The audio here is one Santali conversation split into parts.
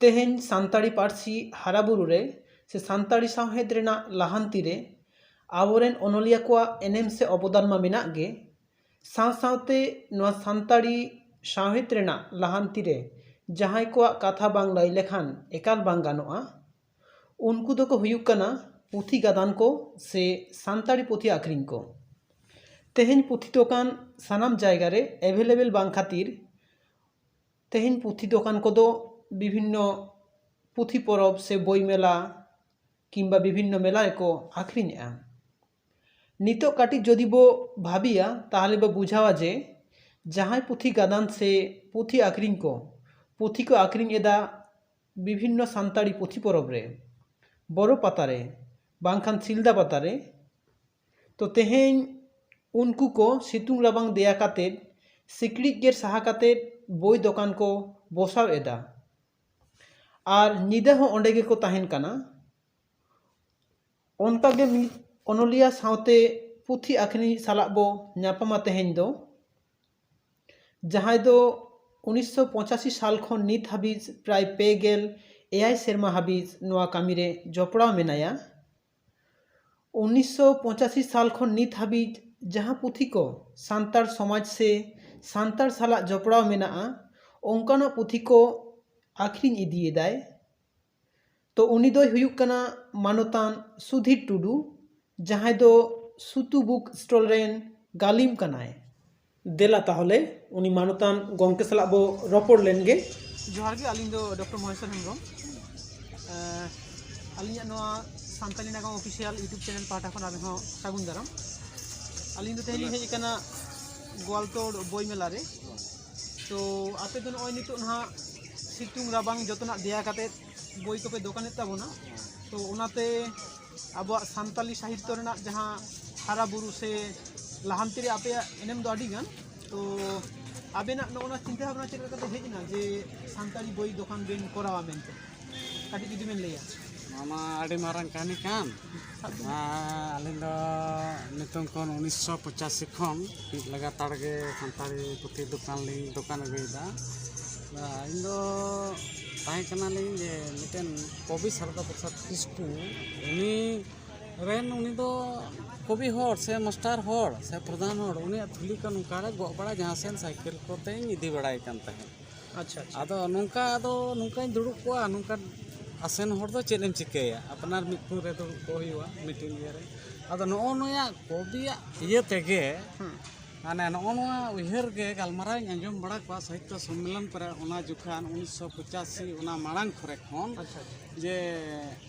ᱛᱮᱦᱮᱧ ᱥᱟᱱᱛᱟᱲᱤ ᱯᱟᱹᱨᱥᱤ ᱦᱟᱨᱟ ᱵᱩᱨᱩ ᱨᱮ ᱥᱮ ᱥᱟᱱᱛᱟᱲᱤ ᱥᱟᱶᱦᱮᱫ ᱨᱮᱱᱟᱜ ᱞᱟᱦᱟᱱᱛᱤ ᱨᱮ ᱟᱵᱚᱨᱮᱱ ᱚᱱᱚᱞᱤᱭᱟᱹ ᱠᱚᱣᱟᱜ ᱮᱱᱮᱢ ᱥᱮ ᱚᱵᱚᱫᱟᱱ ᱢᱟ ᱢᱮᱱᱟᱜ ᱜᱮ ᱥᱟᱶ ᱥᱟᱶᱛᱮ ᱱᱚᱣᱟ ᱥᱟᱱᱛᱟᱲᱤ ᱥᱟᱶᱦᱮᱫ ᱨᱮᱱᱟᱜ ᱞᱟᱦᱟᱱᱛᱤ ᱨᱮ ᱡᱟᱦᱟᱸᱭ ᱠᱚᱣᱟᱜ ᱠᱟᱛᱷᱟ ᱵᱟᱝ ᱞᱟᱹᱭ ᱞᱮᱠᱷᱟᱱ ᱮᱠᱟᱞ ᱵᱟᱝ ᱜᱟᱱᱚᱜᱼᱟ ᱩᱱᱠᱩ ᱫᱚᱠᱚ ᱦᱩᱭᱩᱜ ᱠᱟᱱᱟ ᱯᱩᱛᱷᱤ ᱜᱟᱫᱟᱱ ᱠᱚ ᱥᱮ ᱥᱟᱱᱛᱟᱲᱤ ᱯᱩᱛᱷᱤ ᱟᱠᱷᱨᱤᱧ ᱠᱚ ᱛᱮᱦᱮᱧ ᱯᱩᱛᱷᱤ ᱫᱚᱠᱟᱱ ᱥᱟᱱᱟᱢ ᱡᱟᱭᱜᱟ ᱨᱮ ᱮᱵᱷᱮᱞᱮᱵᱮᱞ ᱵᱟᱝ ᱠᱷᱟᱹᱛᱤᱨ ᱛᱮᱦᱮᱧ ᱯᱩᱛᱷᱤ ᱫᱚᱠᱟᱱ ᱠᱚᱫᱚ ᱵᱤᱵᱷᱤᱱᱱᱚ ᱯᱩᱛᱷᱤ ᱯᱚᱨᱚᱵᱽ ᱥᱮ ᱵᱳᱭ ᱢᱮᱞᱟ ᱠᱤᱢᱵᱟ ᱵᱤᱵᱷᱤᱱᱱᱚ ᱢᱮᱞᱟ ᱨᱮᱠᱚ ᱟᱠᱷᱨᱤᱧᱮᱜᱼᱟ ᱱᱤᱛᱚᱜ ᱠᱟᱹᱴᱤᱡ ᱡᱩᱫᱤ ᱵᱚ ᱵᱷᱟᱹᱵᱤᱭᱟ ᱛᱟᱦᱚᱞᱮ ᱵᱚ ᱵᱩᱡᱷᱟᱹᱣᱟ ᱡᱮ ᱡᱟᱦᱟᱸᱭ ᱯᱩᱛᱷᱤ ᱜᱟᱫᱟᱱ ᱥᱮ ᱯᱩᱛᱷᱤ ᱟᱠᱷᱨᱤᱧ ᱠᱚ ᱯᱩᱛᱷᱤ ᱠᱚ ᱟᱠᱷᱨᱤᱧ ᱮᱫᱟ ᱵᱤᱵᱷᱤᱱᱱᱚ ᱥᱟᱱᱛᱟᱲᱤ ᱯᱩᱛᱷᱤ ᱯᱚᱨᱚᱵᱽ ᱨᱮ ᱵᱚᱨᱚ ᱯᱟᱛᱟ ᱨᱮ ᱵᱟᱝᱠᱷᱟᱱ ᱥᱤᱞᱫᱟᱹ ᱯᱟᱛᱟ ᱨᱮ ᱛᱚ ᱛᱮᱦᱮᱧ ᱩᱱᱠᱩ ᱠᱚ ᱥᱤᱛᱩᱝ ᱨᱟᱵᱟᱝ ᱫᱮᱭᱟ ᱠᱟᱛᱮ ᱥᱤᱠᱲᱤᱡ ᱜᱮᱨ ᱥᱟᱦᱟ ᱠᱟᱛᱮ ᱵᱳᱭ ᱫᱚᱠᱟᱱ ᱠᱚ ᱵᱚᱥᱟᱣ ᱮᱫᱟ ᱟᱨ ᱧᱤᱫᱟᱹ ᱦᱚᱸ ᱚᱸᱰᱮ ᱜᱮᱠᱚ ᱛᱟᱦᱮᱱ ᱠᱟᱱᱟ ᱚᱱᱠᱟ ᱜᱮ ᱢᱤᱫ ᱚᱱᱚᱞᱤᱭᱟᱹ ᱥᱟᱶᱛᱮ ᱯᱩᱛᱷᱤ ᱟᱹᱠᱷᱨᱤᱧ ᱤᱡ ᱥᱟᱞᱟᱜ ᱵᱚ ᱧᱟᱯᱟᱢᱟ ᱛᱮᱦᱮᱧ ᱫᱚ ᱡᱟᱦᱟᱸᱭ ᱫᱚ ᱩᱱᱤᱥᱥᱚ ᱯᱚᱸᱪᱟᱥᱤ ᱥᱟᱞ ᱠᱷᱚᱱ ᱱᱤᱛ ᱦᱟᱹᱵᱤᱡ ᱯᱨᱟᱭ ᱯᱮ ᱜᱮᱞ ᱮᱭᱟᱭ ᱥᱮᱨᱢᱟ ᱦᱟᱹᱵᱤᱡ ᱱᱚᱣᱟ ᱠᱟᱹᱢᱤ ᱨᱮ ᱡᱚᱯᱲᱟᱣ ᱢᱮᱱᱟᱭᱟ ᱩᱱᱤᱥᱥᱚ ᱯᱚᱸᱪᱟᱥᱤ ᱥᱟᱞ ᱠᱷᱚᱱ ᱱᱤᱛ ᱦᱟᱹᱵᱤᱡ ᱡᱟᱦᱟᱸ ᱯᱩᱛᱷᱤ ᱠᱚ ᱥᱟᱱᱛᱟᱲ ᱥᱚᱢᱟᱡᱽ ᱥᱮ ᱥᱟᱱᱛᱟᱲ ᱥᱟᱞᱟᱜ ᱡᱚᱯᱲᱟᱣ ᱢᱮᱱᱟᱜᱼᱟ ᱚᱱᱠᱟᱱᱟᱜ ᱯᱩᱛᱷᱤ ᱠᱚ ᱟᱠᱷᱨᱤᱧ ᱤᱫᱤᱭᱮᱫᱟᱭ ᱛᱚ ᱩᱱᱤ ᱫᱚᱭ ᱦᱩᱭᱩᱜ ᱠᱟᱱᱟ ᱢᱟᱱᱚᱛᱟᱱ ᱥᱩᱫᱷᱤᱨ ᱴᱩᱰᱩ ᱡᱟᱦᱟᱸᱭ ᱫᱚ ᱥᱩᱛᱩ ᱵᱩᱠ ᱥᱴᱚᱞ ᱨᱮᱱ ᱜᱟᱹᱞᱤᱢ ᱠᱟᱱᱟᱭ ᱫᱮᱞᱟ ᱛᱟᱦᱚᱞᱮ ᱩᱱᱤ ᱢᱟᱱᱚᱛᱟᱱ ᱜᱚᱢᱠᱮ ᱥᱟᱞᱟᱜ ᱵᱚ ᱨᱚᱯᱚᱲ ᱞᱮᱱ ᱜᱮ ᱡᱚᱦᱟᱨ ᱜᱮ ᱟᱹᱞᱤᱧ ᱫᱚ ᱰᱚᱠᱴᱚᱨ ᱢᱚᱦᱮᱥᱚᱨ ᱦᱮᱢᱵᱨᱚᱢ ᱟᱹᱞᱤᱧᱟᱜ ᱱᱚᱣᱟ ᱥᱟᱱᱛᱟᱞᱤ ᱱᱟᱜᱟᱢ ᱚᱯᱷᱤᱥᱤᱭᱟᱞ ᱤᱭᱩᱴᱩᱵᱽ ᱪᱮᱱᱮᱞ ᱯᱟᱦᱴᱟ ᱠᱷᱚᱱ ᱟᱵᱮᱱ ᱦᱚᱸ ᱥᱟᱹᱜᱩᱱ ᱫᱟᱨᱟᱢ ᱟᱹᱞᱤᱧ ᱫᱚ ᱛᱮᱦᱮᱧ ᱞᱤᱧ ᱦᱮᱡ ᱟᱠᱟᱱᱟ ᱜᱳᱣᱟᱞᱛᱳᱲ ᱵᱳᱭ ᱢᱮᱞᱟ ᱨᱮ ᱛᱚ ᱟᱯᱮ ᱫᱚ ᱱᱚᱜᱼᱚᱭ ᱱᱤᱛᱚᱜ ᱱᱟᱦᱟᱜ ᱥᱤᱛᱩᱝ ᱨᱟᱵᱟᱝ ᱡᱚᱛᱚᱱᱟᱜ ᱫᱮᱭᱟ ᱠᱟᱛᱮᱫ ᱵᱳᱭ ᱠᱚᱯᱮ ᱫᱚᱠᱟᱱᱮᱫ ᱛᱟᱵᱚᱱᱟ ᱛᱚ ᱚᱱᱟᱛᱮ ᱟᱵᱚᱣᱟᱜ ᱥᱟᱱᱛᱟᱞᱤ ᱥᱟᱦᱤᱛᱛᱚ ᱨᱮᱱᱟᱜ ᱡᱟᱦᱟᱸ ᱦᱟᱨᱟ ᱵᱩᱨᱩ ᱥᱮ ᱞᱟᱦᱟᱱᱛᱤ ᱨᱮ ᱟᱯᱮᱭᱟᱜ ᱮᱱᱮᱢ ᱫᱚ ᱟᱹᱰᱤ ᱜᱟᱱ ᱛᱚ ᱟᱵᱮᱱᱟᱜ ᱱᱚᱜᱼᱚ ᱱᱚᱣᱟ ᱪᱤᱱᱛᱟᱹ ᱵᱷᱟᱵᱽᱱᱟ ᱪᱮᱫ ᱞᱮᱠᱟᱛᱮ ᱦᱮᱡ ᱮᱱᱟ ᱡᱮ ᱥᱟᱱᱛᱟᱲᱤ ᱵᱳᱭ ᱫᱚᱠᱟᱱ ᱵᱮᱱ ᱠᱚᱨᱟᱣᱟ ᱢᱮᱱᱛᱮ ᱠᱟᱹᱴᱤᱡ ᱡᱩᱫᱤ ᱵᱮᱱ ᱞᱟᱹᱭᱟ ᱱᱚᱣᱟ ᱢᱟ ᱟᱹᱰᱤ ᱢᱟᱨᱟᱝ ᱠᱟᱹᱦᱱᱤ ᱠᱟᱱ ᱟᱹᱞᱤᱧ ᱫᱚ ᱱᱤᱛᱚᱝ ᱠᱷᱚᱱ ᱩᱱᱤᱥᱥᱚ ᱯᱚᱸᱪᱟᱥᱤ ᱠᱷᱚᱱ ᱢᱤᱫ ᱞᱟᱜᱟᱛᱟᱨ ᱜᱮ ᱥᱟᱱᱛᱟᱲᱤ ᱯᱩᱛᱷᱤ ᱫᱚᱠᱟᱱ ᱞᱤᱧ ᱫᱚᱠᱟᱱ ᱟᱹᱜᱩᱭᱮᱫᱟ ᱤᱧ ᱫᱚ ᱛᱟᱦᱮᱸ ᱠᱟᱱᱟᱞᱤᱧ ᱡᱮ ᱢᱤᱫᱴᱮᱱ ᱠᱚᱵᱤ ᱥᱟᱨᱚᱫᱟ ᱯᱨᱚᱥᱟᱫᱽ ᱠᱤᱥᱠᱩ ᱩᱱᱤ ᱨᱮᱱ ᱩᱱᱤ ᱫᱚ ᱠᱚᱵᱤ ᱦᱚᱲ ᱥᱮ ᱢᱟᱥᱴᱟᱨ ᱦᱚᱲ ᱥᱮ ᱯᱨᱚᱫᱷᱟᱱ ᱦᱚᱲ ᱩᱱᱤᱭᱟᱜ ᱛᱷᱩᱞᱤ ᱠᱚ ᱱᱚᱝᱠᱟ ᱨᱮ ᱜᱚᱜ ᱵᱟᱲᱟ ᱡᱟᱦᱟᱸ ᱥᱮᱫ ᱥᱟᱭᱠᱮᱞ ᱠᱚᱛᱮᱧ ᱤᱫᱤ ᱵᱟᱲᱟᱭ ᱠᱟᱱ ᱛᱟᱦᱮᱸᱫ ᱟᱪᱪᱷᱟ ᱟᱪᱪᱷᱟ ᱟᱫᱚ ᱱᱚᱝᱠᱟ ᱟᱫᱚ ᱱᱚᱝᱠᱟᱧ ᱫᱩᱲᱩᱵ ᱠᱚᱜᱼᱟ ᱱᱚᱝᱠᱟ ᱟᱥᱮᱱ ᱦᱚᱲ ᱫᱚ ᱪᱮᱫ ᱮᱢ ᱪᱤᱠᱟᱹᱭᱟ ᱟᱯᱱᱟᱨ ᱢᱤᱫ ᱴᱷᱮᱱ ᱨᱮ ᱫᱩᱲᱩᱵ ᱠᱚᱜ ᱦᱩᱭᱩᱜᱼᱟ ᱢᱤᱫᱴᱮᱱ ᱤᱭᱟᱹᱨᱮ ᱟᱫᱚ ᱱᱚᱜᱼᱚ ᱱᱚᱣᱟ ᱠᱚᱵᱤᱭᱟᱜ ᱤᱭᱟᱹ ᱛᱮᱜᱮ ᱢᱟᱱᱮ ᱱᱚᱜᱼᱚ ᱱᱚᱣᱟ ᱩᱭᱦᱟᱹᱨ ᱜᱮ ᱜᱟᱞᱢᱟᱨᱟᱣ ᱤᱧ ᱟᱸᱡᱚᱢ ᱵᱟᱲᱟ ᱠᱚᱣᱟ ᱥᱟᱦᱤᱛᱛᱚ ᱥᱚᱢᱢᱮᱞᱚᱱ ᱠᱚᱨᱮ ᱚᱱᱟ ᱡᱚᱠᱷᱟᱱ ᱩᱱᱤᱥᱥᱚ ᱯᱚᱸᱪᱟᱥᱤ ᱚᱱᱟ ᱢᱟᱲᱟᱝ ᱠᱚᱨᱮ ᱠᱷᱚᱱ ᱟᱪᱪᱷᱟ ᱡᱮ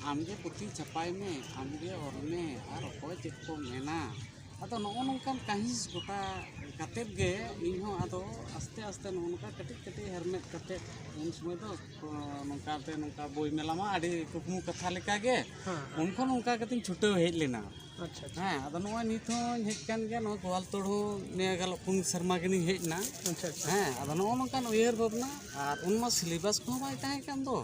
ᱟᱢᱜᱮ ᱯᱩᱛᱷᱤ ᱪᱷᱟᱯᱟᱭ ᱢᱮ ᱟᱢᱜᱮ ᱚᱞ ᱢᱮ ᱟᱨ ᱚᱠᱚᱭ ᱪᱮᱫ ᱠᱚ ᱢᱮᱱᱟ ᱟᱫᱚ ᱱᱚᱜᱼᱚ ᱱᱚᱝᱠᱟᱱ ᱠᱟᱹᱦᱤᱥ ᱜᱚᱴᱟ ᱠᱟᱛᱮᱫ ᱜᱮ ᱤᱧ ᱦᱚᱸ ᱟᱫᱚ ᱟᱥᱛᱮ ᱟᱥᱛᱮ ᱱᱚᱜᱼᱚ ᱱᱚᱝᱠᱟ ᱠᱟᱹᱴᱤᱡ ᱠᱟᱹᱴᱤᱡ ᱦᱮᱨᱢᱮᱫ ᱠᱟᱛᱮᱫ ᱩᱱ ᱥᱚᱢᱚᱭ ᱫᱚ ᱠᱚ ᱱᱚᱝᱠᱟᱛᱮ ᱱᱚᱝᱠᱟ ᱵᱳᱭ ᱢᱮᱞᱟ ᱢᱟ ᱟᱹᱰᱤ ᱠᱩᱠᱢᱩ ᱠᱟᱛᱷᱟ ᱞᱮᱠᱟᱜᱮ ᱦᱮᱸ ᱩᱱ ᱠᱷᱚᱱ ᱚᱱᱠᱟ ᱠᱟᱛᱮᱧ ᱪᱷᱩᱴᱟᱹᱣ ᱦᱮᱡ ᱞᱮᱱᱟ ᱟᱪᱪᱷᱟ ᱟᱪᱪᱷᱟ ᱦᱮᱸ ᱟᱫᱚ ᱱᱚᱜᱼᱚᱭ ᱱᱤᱛ ᱦᱚᱸᱧ ᱦᱮᱡ ᱠᱟᱱ ᱜᱮᱭᱟ ᱱᱚᱣᱟ ᱜᱳᱣᱟᱞ ᱛᱳᱲ ᱦᱚᱸ ᱱᱤᱭᱟᱹ ᱜᱟᱞ ᱯᱩᱱ ᱥᱮᱨᱢᱟ ᱜᱟᱱᱤᱧ ᱦᱮᱡ ᱮᱱᱟ ᱟᱪᱪᱷᱟ ᱟᱪᱪᱷᱟ ᱦᱮᱸ ᱟᱫᱚ ᱱᱚᱜᱼᱚ ᱱᱚᱝᱠᱟᱱ ᱩᱭᱦᱟᱹᱨ ᱵᱷᱟᱵᱽᱱᱟ ᱟᱨ ᱩᱱ ᱢᱟ ᱥᱤᱞᱮᱵᱟᱥ ᱠᱚᱦᱚᱸ ᱵᱟᱭ ᱛᱟᱦᱮᱸ ᱠᱟᱱ ᱫᱚ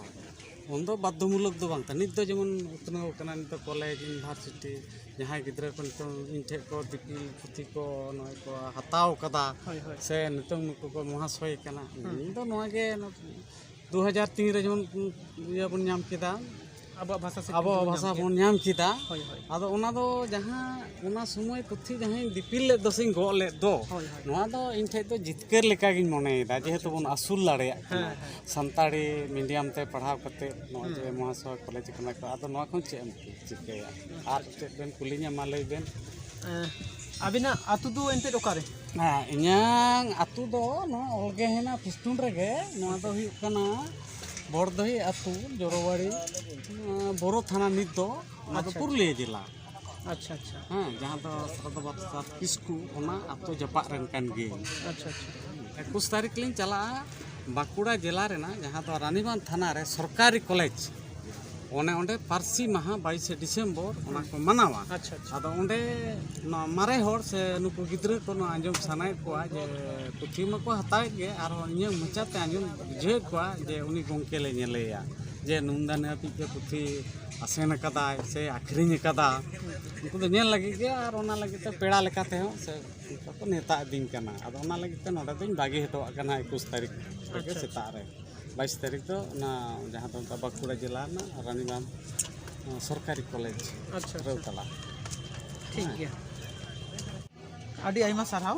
ᱩᱱ ᱫᱚ ᱵᱟᱫᱽᱫᱷᱚ ᱢᱩᱞᱚᱠ ᱫᱚ ᱵᱟᱝ ᱛᱟᱦᱮᱸ ᱱᱤᱛ ᱫᱚ ᱡᱮᱢᱚᱱ ᱩᱛᱱᱟᱹᱣ ᱠᱟᱱᱟ ᱱᱤᱛ ᱫᱚ ᱠᱚᱞᱮᱡᱽ ᱤᱭᱩᱱᱤᱵᱷᱟᱨᱥᱤᱴᱤ ᱡᱟᱦᱟᱸᱭ ᱜᱤᱫᱽᱨᱟᱹ ᱠᱚ ᱱᱤᱛᱚᱝ ᱤᱧ ᱴᱷᱮᱱ ᱠᱚ ᱫᱤᱯᱤᱞ ᱯᱩᱛᱷᱤ ᱠᱚ ᱱᱚᱜᱼᱚᱭ ᱠᱚ ᱦᱟᱛᱟᱣ ᱠᱟᱫᱟ ᱦᱳᱭ ᱦᱳᱭ ᱥᱮ ᱱᱤᱛᱚᱝ ᱱᱩᱠᱩ ᱠᱚ ᱢᱚᱦᱟᱥᱚᱭ ᱠᱟᱱᱟ ᱤᱧ ᱫᱚ ᱱᱚᱣᱟ ᱜᱮ ᱫᱩ ᱦᱟᱡᱟᱨ ᱛᱤᱱ ᱨᱮ ᱡᱮᱢᱚᱱ ᱤᱭᱟᱹ ᱵᱚᱱ ᱧᱟᱢ ᱠᱮᱫᱟ ᱟᱵᱚᱣᱟᱜ ᱵᱷᱟᱥᱟ ᱥᱮ ᱟᱵᱚᱣᱟᱜ ᱵᱷᱟᱥᱟ ᱵᱚᱱ ᱧᱟᱢ ᱠᱮᱫᱟ ᱟᱫᱚ ᱚᱱᱟ ᱫᱚ ᱡᱟᱦᱟᱸ ᱚᱱᱟ ᱥᱚᱢᱚᱭ ᱯᱩᱛᱷᱤ ᱡᱟᱦᱟᱸᱧ ᱫᱤᱯᱤᱞ ᱞᱮᱫ ᱫᱚ ᱥᱮᱧ ᱜᱚᱜ ᱞᱮᱫ ᱫᱚ ᱱᱚᱣᱟ ᱫᱚ ᱤᱧ ᱴᱷᱮᱡ ᱫᱚ ᱡᱤᱛᱠᱟᱹᱨ ᱞᱮᱠᱟᱜᱤᱧ ᱢᱚᱱᱮᱭᱮᱫᱟ ᱡᱮᱦᱮᱛᱩ ᱵᱚᱱ ᱟᱹᱥᱩᱞ ᱫᱟᱲᱮᱭᱟᱜ ᱠᱟᱱᱟ ᱥᱟᱱᱛᱟᱲᱤ ᱢᱤᱰᱤᱭᱟᱢ ᱛᱮ ᱯᱟᱲᱦᱟᱣ ᱠᱟᱛᱮ ᱱᱚᱜᱼᱚᱭ ᱡᱮ ᱢᱚᱦᱟᱥᱚᱭ ᱠᱚᱞᱮᱡᱽ ᱠᱟᱱᱟ ᱠᱚ ᱟᱫᱚ ᱱᱚᱣᱟ ᱠᱷᱚᱱ ᱪᱮᱫ ᱮᱢ ᱪᱤᱠᱟᱹᱭᱟ ᱟᱨ ᱪᱮᱫ ᱵᱮᱱ ᱠᱩᱞᱤᱧᱟ ᱢᱟ ᱞᱟᱹᱭ ᱵᱮᱱ ᱟᱵᱤᱱᱟᱜ ᱟᱹᱛᱩ ᱫᱚ ᱮᱱᱛᱮᱫ ᱚᱠᱟᱨᱮ ᱦᱮᱸ ᱤᱧᱟᱹᱝ ᱟᱹᱛᱩ ᱫᱚ ᱱᱚᱣᱟ ᱚᱞᱜᱮ ᱦᱮᱱᱟᱜ ᱯᱷᱤᱥᱴᱩᱱ ᱨᱮᱜᱮ ᱱᱚᱣᱟ ᱫᱚ ᱦᱩᱭᱩᱜ ᱠᱟᱱᱟ ᱵᱚᱲᱫᱚᱦᱤ ᱟᱹᱛᱩ ᱡᱚᱨᱚᱵᱟᱲᱤ ᱵᱳᱨᱳ ᱛᱷᱟᱱᱟ ᱱᱤᱛ ᱫᱚ ᱚᱱᱟ ᱫᱚ ᱯᱩᱨᱩᱞᱤᱭᱟᱹ ᱡᱮᱞᱟ ᱟᱪᱪᱷᱟ ᱟᱪᱪᱷᱟ ᱦᱮᱸ ᱡᱟᱦᱟᱸ ᱫᱚ ᱥᱟᱨᱫᱟ ᱵᱟᱫᱥᱟ ᱠᱤᱥᱠᱩ ᱚᱱᱟ ᱟᱹᱛᱩ ᱡᱟᱯᱟᱜ ᱨᱮᱱ ᱠᱟᱱ ᱜᱤᱭᱟᱹᱧ ᱟᱪᱪᱷᱟ ᱟᱪᱪᱷᱟ ᱮᱠᱩᱥ ᱛᱟᱹᱨᱤᱠᱷ ᱞᱤᱧ ᱪᱟᱞᱟᱜᱼᱟ ᱵᱟᱸᱠᱩᱲᱟ ᱡᱮᱞᱟ ᱨᱮᱱᱟᱜ ᱡᱟᱦᱟᱸ ᱫᱚ ᱨᱟᱱᱤᱵᱟᱸᱫᱽ ᱛᱷᱟᱱᱟ ᱨᱮ ᱥᱚᱨᱠᱟᱨᱤ ᱠᱚᱞᱮᱡᱽ ᱚᱱᱮ ᱚᱸᱰᱮ ᱯᱟᱹᱨᱥᱤ ᱢᱟᱦᱟ ᱵᱟᱭᱤᱥᱮ ᱰᱤᱥᱮᱢᱵᱚᱨ ᱚᱱᱟ ᱠᱚ ᱢᱟᱱᱟᱣᱟ ᱟᱪᱪᱷᱟ ᱟᱪᱪᱷᱟ ᱟᱫᱚ ᱚᱸᱰᱮ ᱱᱚᱣᱟ ᱢᱟᱨᱮ ᱦᱚᱲ ᱥᱮ ᱱᱩᱠᱩ ᱜᱤᱫᱽᱨᱟᱹ ᱠᱚ ᱱᱚᱣᱟ ᱟᱸᱡᱚᱢ ᱥᱟᱱᱟᱭᱮᱫ ᱠᱚᱣᱟ ᱡᱮ ᱯᱩᱛᱷᱤ ᱢᱟᱠᱚ ᱦᱟᱛᱟᱣᱮᱫ ᱜᱮ ᱟᱨᱦᱚᱸ ᱤᱧᱟᱹᱜ ᱢᱚᱪᱟᱛᱮ ᱟᱸᱡᱚᱢ ᱵᱩᱡᱷᱟᱹᱣᱮᱫ ᱠᱚᱣᱟ ᱡᱮ ᱩᱱᱤ ᱜᱚᱢᱠᱮ ᱞᱮ ᱧᱮᱞᱮᱭᱟ ᱡᱮ ᱱᱩᱱᱫᱟ ᱱᱤᱭᱟᱹ ᱦᱟᱹᱵᱤᱡ ᱛᱮ ᱯᱩᱛᱷᱤ ᱟᱥᱮᱱ ᱟᱠᱟᱫᱟᱭ ᱥᱮ ᱟᱹᱠᱷᱨᱤᱧ ᱟᱠᱟᱫᱟ ᱩᱱᱠᱩ ᱫᱚ ᱧᱮᱞ ᱞᱟᱹᱜᱤᱫ ᱜᱮ ᱟᱨ ᱚᱱᱟ ᱞᱟᱹᱜᱤᱫ ᱛᱮ ᱯᱮᱲᱟ ᱞᱮᱠᱟ ᱛᱮᱦᱚᱸ ᱥᱮ ᱚᱱᱠᱟ ᱠᱚ ᱱᱮᱶᱛᱟ ᱤᱫᱤᱧ ᱠᱟᱱᱟ ᱟᱫᱚ ᱚᱱᱟ ᱞᱟᱹᱜᱤᱫ ᱛᱮ ᱱᱚᱰᱮ ᱫᱚᱧ ᱵᱟᱹᱜᱤ ᱦᱚᱴᱚᱣᱟᱜ ᱠᱟᱱᱟ ᱮᱠᱩᱥ ᱛᱟᱹᱨᱤᱠᱷ ᱨᱮᱜᱮ ᱥᱮᱛᱟᱜ ᱨᱮ ᱵᱟᱭᱤᱥ ᱛᱟᱹᱨᱤᱠᱷ ᱫᱚ ᱚᱱᱟ ᱡᱟᱦᱟᱸ ᱫᱚ ᱚᱱᱠᱟ ᱵᱟᱸᱠᱩᱲᱟ ᱡᱮᱞᱟ ᱨᱮᱱᱟᱜ ᱨᱟᱱᱤᱵᱟᱸᱫᱷ ᱱᱚᱣᱟ ᱥᱚᱨᱠᱟᱨᱤ ᱠᱚᱞᱮᱡᱽ ᱟᱪᱪᱷᱟ ᱟᱪᱪᱷᱟ ᱨᱟᱹᱣᱛᱟᱞᱟ ᱴᱷᱤᱠ ᱜᱮᱭᱟ ᱟᱹᱰᱤ ᱟᱭᱢᱟ ᱥᱟᱨᱦᱟᱣ